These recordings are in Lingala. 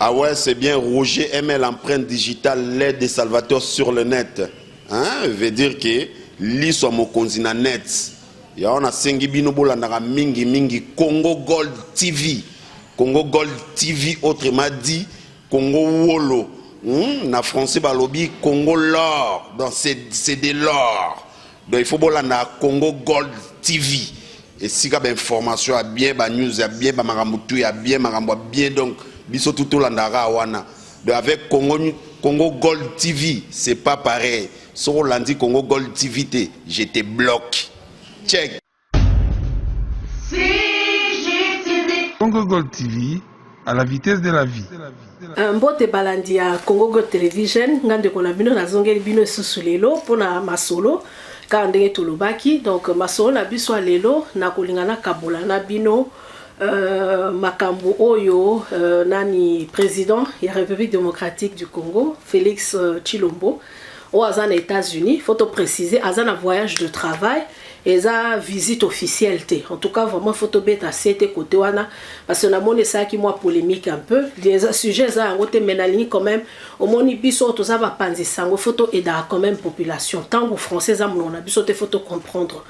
Ah ouais, c'est bien Roger ML empreinte digitale l'aide de Salvatore sur le net. Hein, veut dire que liso ya mokonzi na net. Yango nasengi bino bolandaka mingi mingi Congo Gold TV. Congo Gold TV autrement dit Congo Wolo. Hmm, na français balobi Congo l'or. Donc c'est de l'or. Donc il faut bolanda Congo Gold TV esika ba information ya bien ba news ya bien ba makambo tout ya bien makambo ya bien donc biso tout tolandaka wana donc avec Congo Congo Gold TV c'est pas pareil soko olandi Congo Gold TV te je te bloque check Congo Gold TV, à la vitesse de la vie. Euh, mbote balandi ya Congo Gold Television, nga ndeko na bino nazongeli bino esusu lelo pona masolo kaka ndenge tolobaki. Donc masolo na biso lelo nakolinga nakabola na bino euh, makambo oyo euh, nani président ya République démocratique du Congo Félix euh, Tshilombo euh, oyo aza na États-Unis faut to préciser aza na voyage de travail eza visite officielle te en tout cas vraiment faut tobeta sete côté wana parce que namoni esalaki mwa polémique un peu eza sujet eza yango te mais nalingi quand même omoni biso oyo toza bapanzi sango faut toaidaka quand même population ntango français eza monoko na biso te faut tocomprendre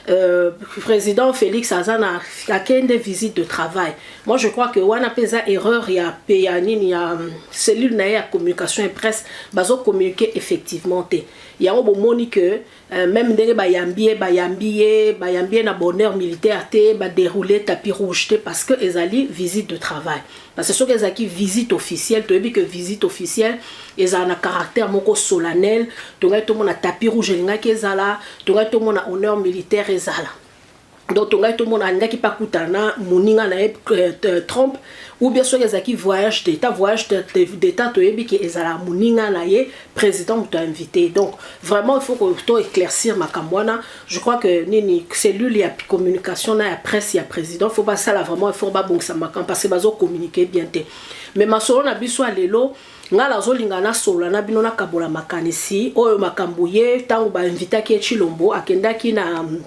Euh, président Félix Azana a des visite de travail. Moi, je crois que wana pesa erreur ya peya nini ya euh, cellule na ya communication et presse bazo communiquer effectivement te. Yango bo moni que euh, même ndenge ba yambier ba yambier ba yambier na bonheur militaire te ba dérouler tapis rouge te parce que ezali visite de travail. Parce que soki ezalaki visite officielle, toyebi que visite officielle ezala na caractère moko solennel, tongaki tomona tapis rouge elingaki ezala, tongaki tomona honneur militaire ezala. Donc tongaki tomona alingaki pa kutana na moninga na ye euh, euh, Trump ou bien soki ezalaki voyage d'état voyage d'état toyebi ke ezala moninga na ye président moto invité donc vraiment il faut to éclaircir makambo wana je crois que nini cellule ya communication na ya presse ya président faut basala vraiment effort babongisa makambo parce que bazocommunique bien te mais masolo na biso ya lelo ngai nazolinga nasolola na bino nakabola makanisi oyo makambo ye ntango bainvitaki ye chilombo akendaki na mm,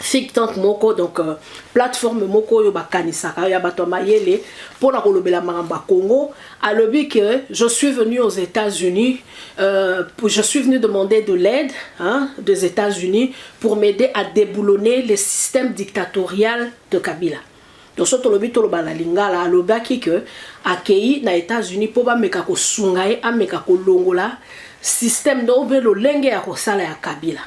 think tank moko donc euh, plateforme moko oyo bakanisaka ya bato ya mayele mpo na kolobela makambo ya congo alobi que je suis venu aux États-Unis euh, je suis venu demander de l'aide hein, des États-Unis pour m'aider à déboulonner le système dictatorial de Kabila donc soki tolobi toloba na lingala alobaki que akei na États-Unis mpo bameka kosunga ye ameka kolongola système donc mpe lolenge ya kosala ya Kabila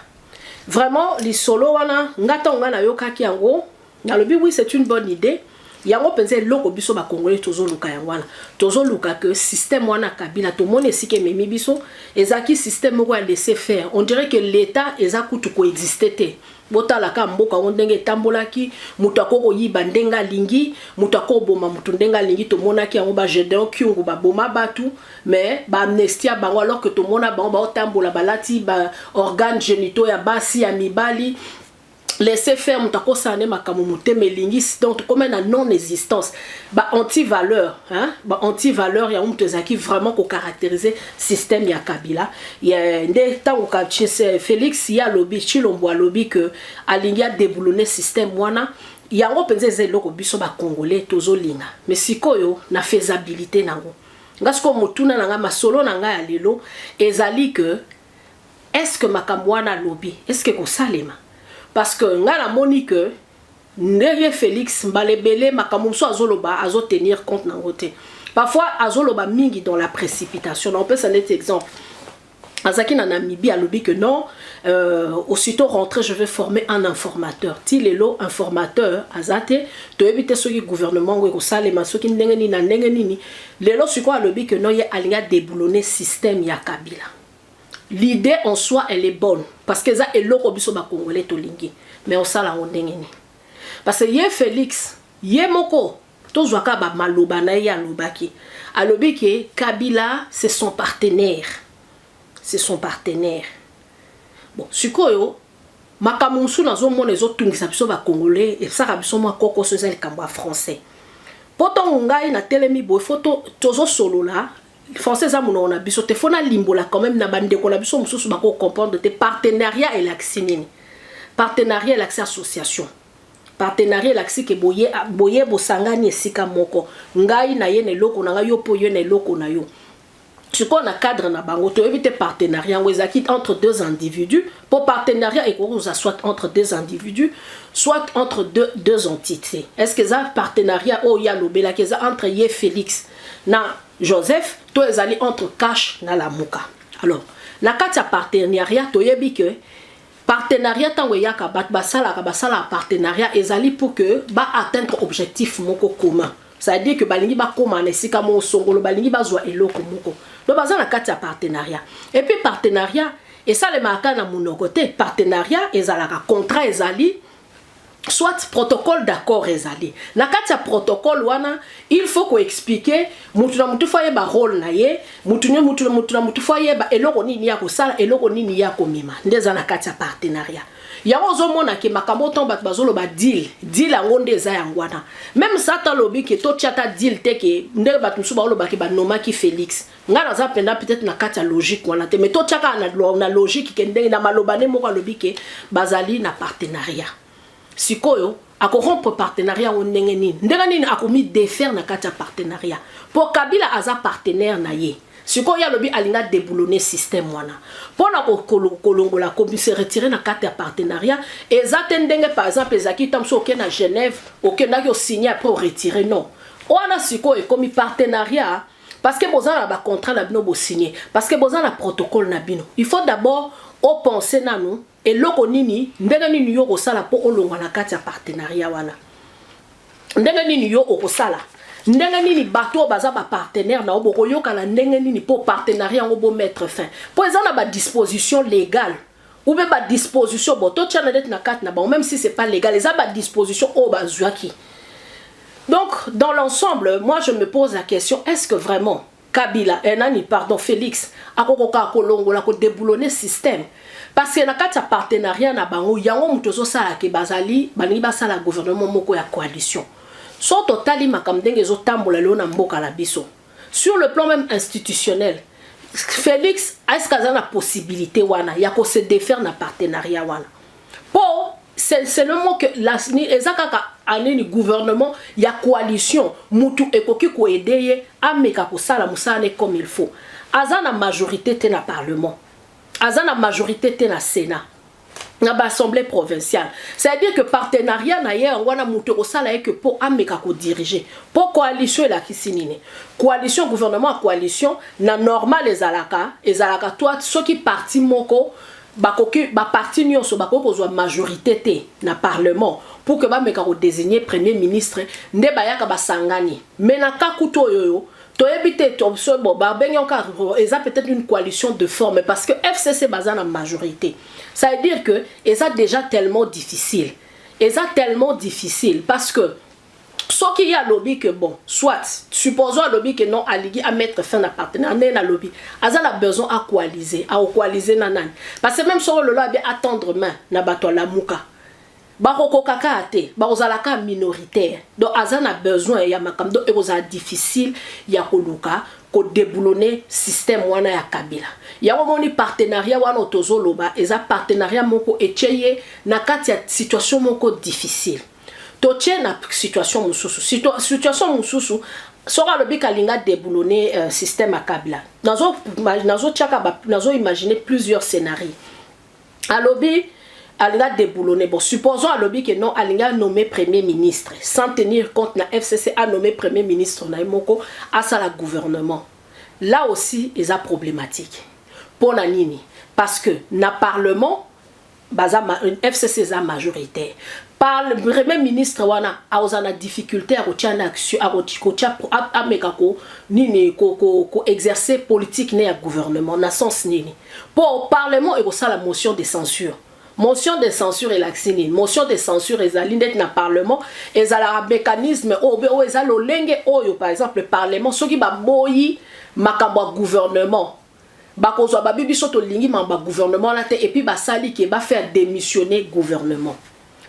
vraiment lisolo wana nga ntango nga nayokaki yango Nalobi oui c'est une bonne idée. yango mpenza eloko biso bakongole tozoluka yango wana tozoluka ke système wana kabila tomoni esika ememi biso ezalaki système moko ya laisser faire on dirait que l'état eza kutu koexiste te botalaka mboka yango ndenge etambolaki moto ako koyiba ndenge alingi moto ako koboma moto ndenge alingi tomonaki yango bagedeon kyungu baboma bato mais baamnestia bango alors que tomona bango baotambola balati baorgane genito ya basi ya mibali laisser faire moto akosala nde makambo motema elingi donc tokoma na non existence ba anti valeur hein? ba anti valeur yango moto ezalaki vraiment kocaractérise système ya kabila ya, nde ntango félix ye alobi chilombo alobi ke alingi adeboulone système wana yango mpenza eza eloko biso bacongolais tozolinga mais sikoyo na faisabilité nango nga sikoyo motuna na ngai masolo na ngai ya lelo ezali ke est ce que makambo wana alobi est ce que ekosalema parce que ngai namoni que nde ye Felix mbala ebele makambo mosusu azoloba azotenir compte nango te parfois azoloba mingi dans la précipitation na opesa neti exemple azalaki na namibie alobi que non euh, aussitôt rentré je vais former un informateur ti lelo informateur aza te toyebi te soki gouvernement yango ekosalema soki ndenge nini na ndenge nini Lelo sikoyo alobi que non ye alingi a deboulonner système ya Kabila. L'idee en soi elle est bonne parce que eza eloko biso ba congolais tolingi mais osala yango ndenge nini? Parce que ye Felix ye moko tozwa kaka ba maloba na ye alobaki alobi que Kabila c'est son partenaire c'est son partenaire bon sikoyo Makambo mosusu nazomona ezotungisa biso ba congolais esaka biso mwa kokoso eza likambo ya français mpo ntongo ngai natelemi boye fo tozosolola français eza monoko na biso te fo nalimbola quand même na bandeko na biso mosusu bako comprendre te partenariat elakisi nini partenariat elakisi association partenariat elakisi ke boye, boye bosangani esika moko ngai naye na eloko na ngai yo mpo yo na eloko na yo sikoyo na cadre na bango toyebi te partenariat yango ezalaki entre deux individus mpo partenariat ekoki kozala soit entre deux individus soit entre deux, deux entités est ce que eza partenariat oyo ye alobelaki eza entre ye félix na joseph to ezali entre cash na lamuka alors na kati ya partenariat toyebi ke Partenariat tango eyaka bat basalaka basala partenariat ezali pour que ba atteindre objectif moko commun. C'est-à-dire que balingi bakoma na esika moko songolo balingi bazwa eloko moko. Donc baza na kati ya partenariat. Et puis partenariat esalemaka na munoko te. Partenariat ezalaka contrat ezali soit protocole d'accord ezali na kati ya protocole wana il faut koexplike mutu na mutu fo ayeba role na ye mutu na mutu na mutu na mutu fo ayeba eloko nini ye akosala eloko nini ye akomema nde eza na kati ya partenariat yango ozomona ke makambo ntango bato bazoloba deal deal yango nde eza yango wana meme sata alobi ke totya ta deal te ke ndenge bato mosusu baolobaki banomaki félix nga naza mpenza peut-être na kati ya logique wana te mais totya kaka na, na logique ke ndenge na maloba nde moko alobi ke bazali na partenariat sikoyo akorompre partenariat yango ndenge nini ndenge nini akomidefaire na kati ya partenariat mpo kabila aza partenaire na ye sikoyo ye alobi alinga deboulone système wana mpo na kolongola komise retire na kati ya partenariat eza te ndenge par exemple ezalaki ntango mosusu oke na genève okendaki osigne apres oretire non wana sikoyo ekomi partenariat parce que boza na ba contrat na bino bosigne parce que boza na protocole na bino il faut d'abord opense nanu eloko nini ndenge nini yo okosala mpo olongwa na kati ya partenariat wana ndenge nini yo okosala ndenge nini bato oyo baza bapartenaire na yo bokoyokana ndenge nini mpo partenariat yango bomettre fin mpo eza na badisposition légale ou bien ba disposition bo to tia na dette na carte na bango même si c'est pas légal eza ba disposition oyo bazuaki donc dans l'ensemble moi je me pose la question est-ce que vraiment kabila eh, nani pardon félix akokoka kolongola kodeboulone système parce que na kati ya partenariat na bango yango moto ezosala ke bazali balingi basala gouvernement moko ya coalition so totali makambo ndenge ezotambola lelo na mboka na biso Sur le plan meme institutionnel, Felix est ce qu'aza na possibilité wana ya ko se défaire na partenariat wana po c'est seulement que la eza kaka anini gouvernement ya coalition mutu ekoki ko aider ye ameka kosala mosala ne comme il faut aza na majorité te na parlement aza na majorité te na sénat na ba assemblée provinciale c'est-à-dire que partenariat na ye yango wana moto ekosala ye que mpo ameka kodirige mpo coalition elakisi nini coalition gouvernement ya coalition na normal ezalaka ezalaka toi soki parti moko bakoki baparti nyonso bakoki kozwa majorité te na parlement pour que bameka kodesigne premier ministre nde bayaka basangani me na ka kutu oyoyo toyebi te toso bo babengi yango kaka oh, eza peut-être une coalition de forme parce que fcc baza na majorité ça veut dire que eza déjà tellement difficile eza tellement difficile parce que soki ye alobi ke bon soit supposons alobi ke non aligi amettre fin na partenaire ndenge nalobi aza na besoin akoalise aokoalise na nani parce que même soko lelo abi atendre main na bato alamuka bakokoka kaka te bakozala kaka minoritaire donc aza na besoin ya makambo donc ekozala difficile ya koluka kodeboulone système wana ya kabila yango omoni partenariat wana tozoloba eza partenariat moko etye ye na kati ya situation moko difficile totye na situation mosusu situation mosusu soki alobi kalinga deboulone euh, système ya kabila nazotyaka nazo, nazo imagine plusieurs scénarie alobi alingi adeboulonne bon supposons alobi ke non alingi anomme premier ministre sans tenir compte na fcc anomme premier ministre na ye moko asala gouvernement là aussi eza problématique mpo na nini parce que na parlement baza fcc eza majoritaire par le premier ministre wana aoza na difficulté ya kotia na action akotia ameka ko nini ko, ko, ko exercer politique ne ya gouvernement na sens nini Po parlement ekosala motion de censure. Motion de censure elakisi nini? Motion de censure ezali ndeti na parlement ezalaka mecanisme oyo be oyo eza lolenge oyo par exemple parlement soki baboyi makambo ya gouvernement bakozwa babi biso tolingi makambo ya gouvernement wana te epuis basali ke ba faire demissionner gouvernement.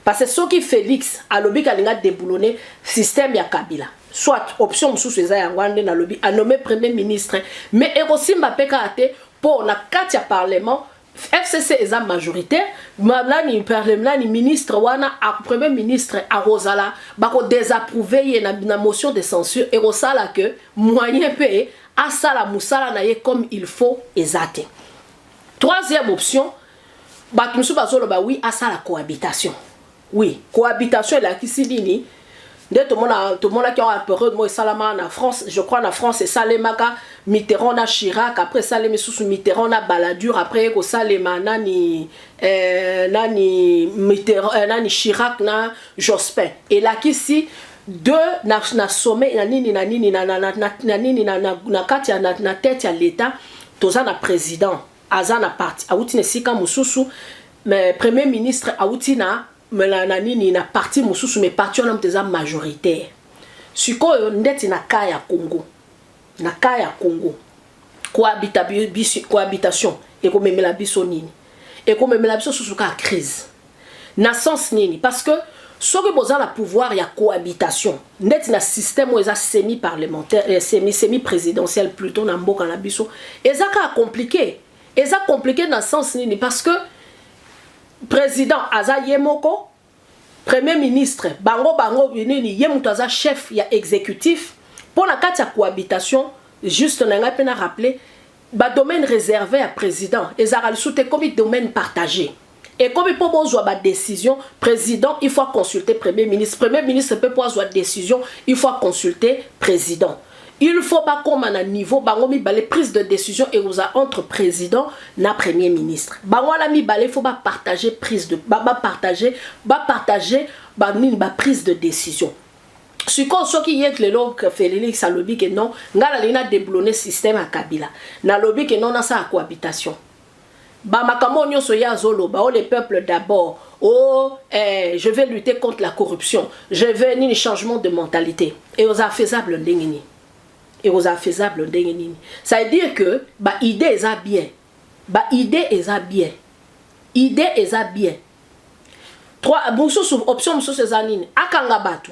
Parce que soki Felix alobi kalinga deboulonner système ya Kabila. Soit option mususu eza yango ande na lobi a nommer premier ministre mais ekosimba pe kaka te po na kati ya parlement FCC eza majoritaire nani nani ministre wana a premier ministre akozala bako désapprouver ye na, na motion de censure ekosala que moyen pe asala musala na ye comme il faut eza te troisième option bato mosusu bazoloba wi asala cohabitation wi cohabitation elakisi nini nde tomona tomonaki awa periode moko esalamaka na france je crois na france esalemaka mitterrand na chirac après esalemi susu mitterrand na baladure après ye kosalema nani eh, nani mitterrand eh, nani chirac na jospin elakisi de na, na sommet na nini na nini na, na, na, na, na nini na, na, na kati ya na, na tete ya leta toza na président aza na parti awuti na esika mosusu mais premier ministre awuti na na nini na parti mosusu mais parti wana moto eza majoritaire sikoyo ndeti na cas ya congo na cas ya congo cohabitation ekomemela biso nini ekomemela biso susu kaka crise Na sens nini? Parce que soki boza na pouvoir ya cohabitation ndeti na système oyo eza semi parlementaire eh, semi semi présidentiel plutôt na mboka na biso eza kaka compliqué eza compliqué na sens nini parce que président aza ye moko premier ministre bango bango nini ye moto aza chef ya exécutif mpo na kati ya cohabitation juste na ngai mpe na rappeler ba domaine reserve ya president ezalaka lisusu te ekomi domaine partage ekomi mpo bozwa badecision président il faut aconsulte premier ministre premier ministre mpe mpo azwa décision il faut aconsulte président il faut bakóma na niveau bango mibale prise de décision ekozala entre président na premier ministre bango wana mibale il faut bapartage prise de bapartage bapartage banini baprise de décision sikoyo soki yet lelo felix alobi ke non ngai nalingi na deblone système ya kabila nalobi ke non nasala cohabitation bamakambo oyo nyonso ye azoloba o oh, le peuple d'abord o oh, eh, je vais lutter contre la corruption je vais nini changement de mentalité ekozala faisable ndenge nini ekozala faisable ndenge nini ça veut dire que baidée eza bien Ba idee eza bien idee eza bien trois mususu option mususu eza nini akanga batu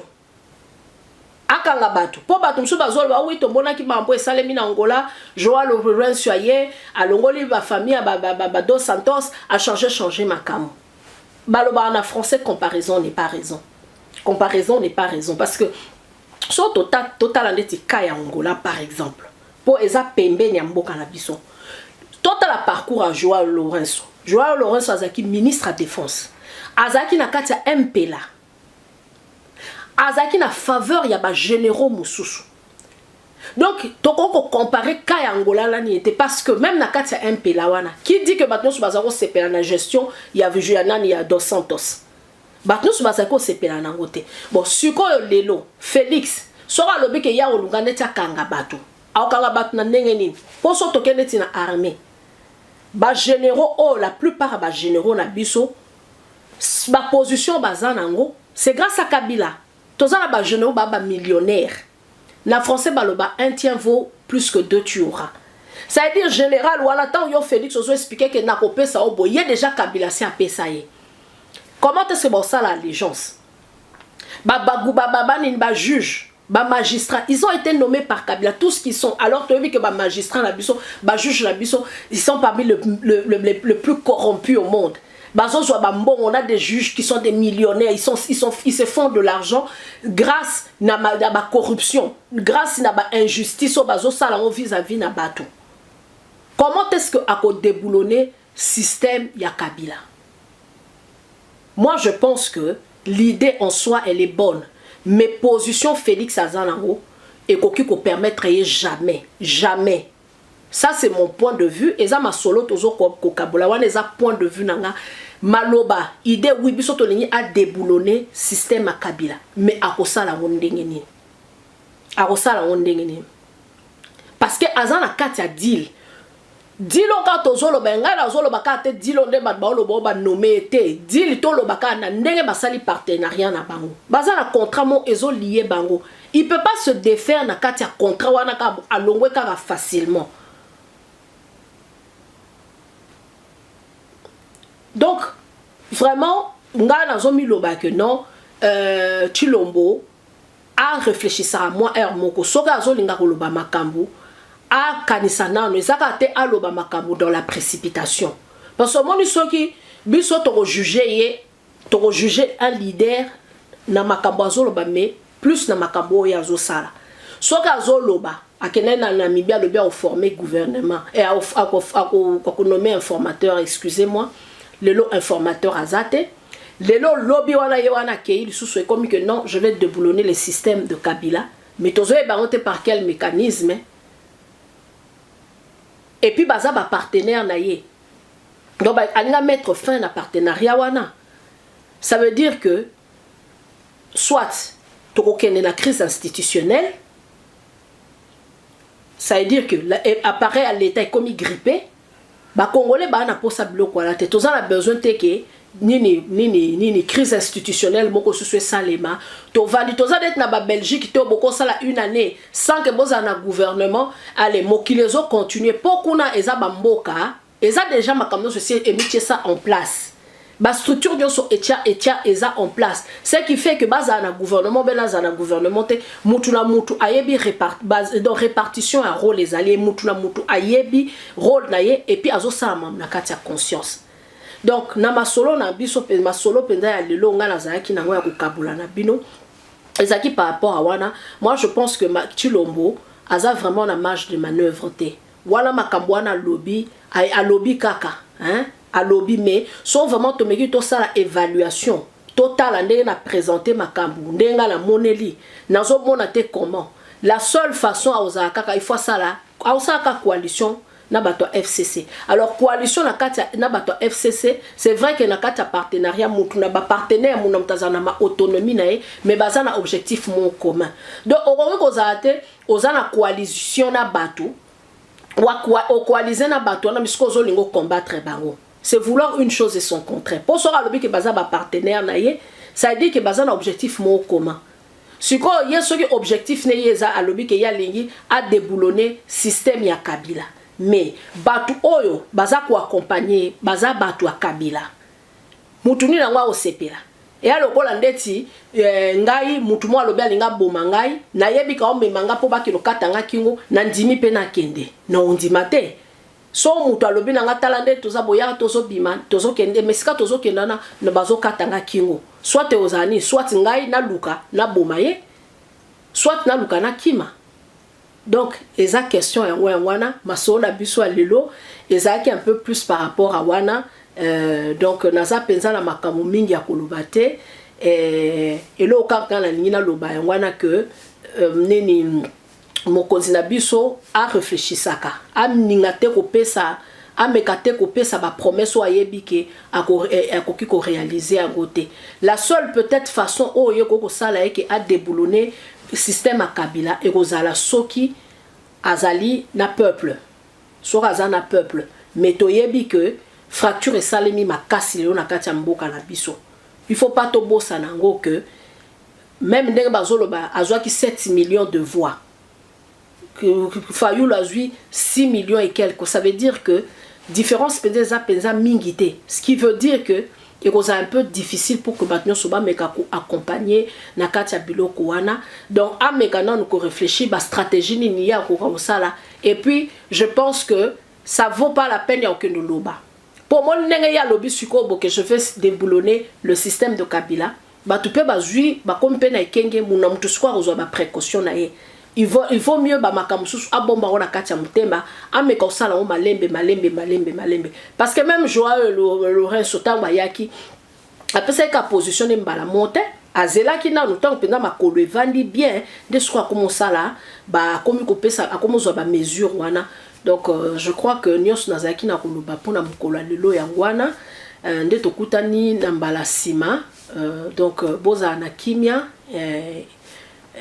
akanga batu po batu mususu bazoloba oui tomonaki mambo esalemi na Angola Joao Lourenço aye alongoli ba famille ya ba, ba, ba, ba dos Santos a changer changer makambo balobaka na français comparaison n'est pas raison comparaison n'est pas raison parce que so totala ndeti cas ya Angola par exemple Po eza pembeni ya mboka na biso. Totala parcours ya Joao Lourenço. Joao Lourenço azalaki ministre ya defense. Azalaki na kati ya MPLA. Azalaki na faveur ya ba généraux mosusu. Donc, toko ko comparer cas ya Angola na nini te parce que même na kati ya MPLA wana, qui dit que bato nyonso baza ko sepela na gestion ya ya nani ya Dos Santos. bato nyonso bazali kosepela na yango te bon sikoyo lelo felix soki alobi ke ya kolunga neti akanga bato akokanga bato na ndenge nini mpo so toke neti na armée bagénéraux oyo oh, la plupart ya bagénéraux na biso baposition baza na yango c'est grâce ya kabila toza na bagénéraux baa bamillionnaire Na français baloba un tien vaut plus que deux tu auras. Ça veut dire general wana tango yo Felix ozo expliquer que nako pesa yo boye ye dejà Kabila si apesa ye. Comment est-ce que ba osala allégeance? Ba bagu ba baba nini ba juge ba magistrats ils ont été nommés par Kabila tous ce qu'ils sont alors toyebi que ba magistrats na biso ba juges na biso ils sont parmi le, le, le, le, le plus corrompus au monde bazozwa bambongo na des juges qui sont des millionnaires ils, sont, ils, sont, ils se font de l'argent grâce na, ma, na bacorruption grâce na bainjustice oyo bazosala yango vis-à-vis na bato comment est-ce que akodeboulonne système ya kabila moi je pense que l'idée en soi elle est bonne mais position félix aza nango ekoki kopermettre ye jamais jamais Ça c'est mon point de vue eza masolo tozo kokabola wana eza point de vue na nga maloba idée oui biso tolingi a déboulonner système ya kabila mais akosala yango ndenge nini akosala yango ndenge nini parce que aza na kati ya deal dilo kaka tozoloba ye ngai nazoloba kaka te dilo nde bato baoloba o banome ye te dili toloba kaka na ndenge basali partenariat na bango baza na contrat mo ezolie bango il peut pas se defaire na kati ya contrat wana kaka alongwe kaka facilement donc vraiment ngai nazomiloba ke non euh, chilombo areflechisaka mwa heure moko soki azolinga koloba makambo akanisa nano eza kaka te aloba makambo dans la précipitation parce omoni soki biso tokojuge ye Toko juger un leader na makambo azoloba mais plus na makambo oyo azosala. Soki azoloba akendaki na Namibie alobi ako former gouvernement et ako ako ako nommer informateur excusez moi lelo informateur aza te lelo lobi wana ye wana akeyi lisusu ekomi que non je vais deboulonner le système de Kabila mais tozoyeba yango te par quel mécanisme et puis baza ba partenaire na ye donc alinga mettre fin na partenariat wana ça veut dire que soit tokokende na crise institutionnelle ça veut dire que eh, appareil ya l'état ekomi grippe bacongolais baa na mposa biloko wana te toza na besoin te ke nini nini nini crise institutionnelle moko susu esalema tovandi toza neti na ba belgique to bokosala une année sans que bozala na gouvernement ale mokili ezo continue mpo kuna eza bamboka eza deja makambo nyonso esi emitie sa en place bastructure nyonso etya etya eza en place ce qui fait que bazala na gouvernement obele azala na gouvernement te mutu na mutu ayebi repart, donc répartition ya rôle ezali ye mutu na mutu ayebi rôle na ye epuis azosala mambo na kati ya conscience Donc na masolo na biso pe masolo penza ya lelo nga nazalaki nango ya kokabola na bino ezalaki par rapport à wana moi je pense que Chilombo aza vraiment na marge de manœuvre te wana makambo wana alobi alobi kaka hein alobi mais so vraiment tomeki tosala évaluation totala ndenge na présente makambo ndenge nga namoneli nazomona te comment la seule façon akozala kaka il faut asala aosala kaka coalition na bato ya fcc alors coalition na kati na bato ya fcc c'est vrai que na kati ya partenariat motu na bapartenaire mona moto azala na baautonomie na ye mais baza na objectif mon commun donc okoki kozala te oza na coalition na bato okoalize na bato wana misiko ozolinga ocombattre bango c'est vouloir une chose et son contraire mpo soki alobi ke baza bapartenaire na ye ça veut dire ke baza na objectif moko commun Sikoyo ye soki objectif ne ye eza alobi ke ye alingi a deboulonner système ya Kabila mais batu oyo baza ko accompagner ye baza batu ya Kabila mutu nini yango akosepela? Eya lokola ndeti eh, ngai mutu moko alobi alingi aboma ngai nayebi kaomema ngai mpo bakende kokata ngai kingo nandimi mpe nakende na ondima te so moto alobi na nga tala nde toza boyaka tozobima tozokende mesika tozokenda na na bazokata nga kingo soit ozala nini soit ngai naluka naboma ye soit naluka nakima donc eza question yango yango wana masolo na biso ya lelo ezalaki un peu plus par rapport a wana euh, donc naza mpenza na makambo mingi ya koloba te euh, eloko kaka nalingi naloba yango wana ke euh, nini mokonzi na biso a reflechisaka amninga te kopesa ameka te kopesa ba promesse oyo ayebi ke eh, akoki ko réaliser yango te la seule peut-être façon oyo ye okoki kosala ye ke adeboulonne système ya kabila ekozala soki azali na peuple soki aza na peuple mais toyebi ke fracture esalemi makasi lelo na kati ya mboka na biso il faut pas tobosana yango ke meme ndenge bazoloba azwaki 7 millions de voix fayulu azwi 6 millions et quelque ça veut dire que différence mpenza eza mpenza mingi te ce qui veut dire que ekozala un peu difficile pour que bato nyonso bameka koaccompagne na kati ya biloko wana donc ameka nanu korefléchir bastratégie nini ye akoka kosala et puis je pense que ça vaut pas la peine ya kokende oloba mpo omoni ndenge ye alobi sikoyo boke je vais déboulonner le système de kabila Batu pe bazui bakomi pe na ekenge muna mutu sikoyo akozwa ba precaution na ye il vaut, il vaut mieux ba makambo mosusu abomba yango na kati ya motema ameka kosala yango malembe malembe malembe malembe parce que même Joao Lourenço ntango ayaki apesaki ka position ne mbala moko te azelaki nanu ntango mpenza makolo evandi bien nde sikoyo akomi osala akomi kopesa akomi ozwa bamesure wana Donc euh, je crois que nionso nazalaki na koloba mpona mokolo ya lelo yango wana euh, nde tokutani na mbala nsima euh, donc euh, bozala na kimia euh,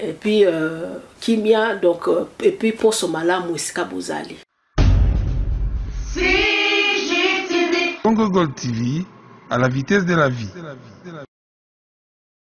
et puis euh, kimia donc euh, et puis poso malamu esika bozali Congo Gold TV, à la vitesse de la vie.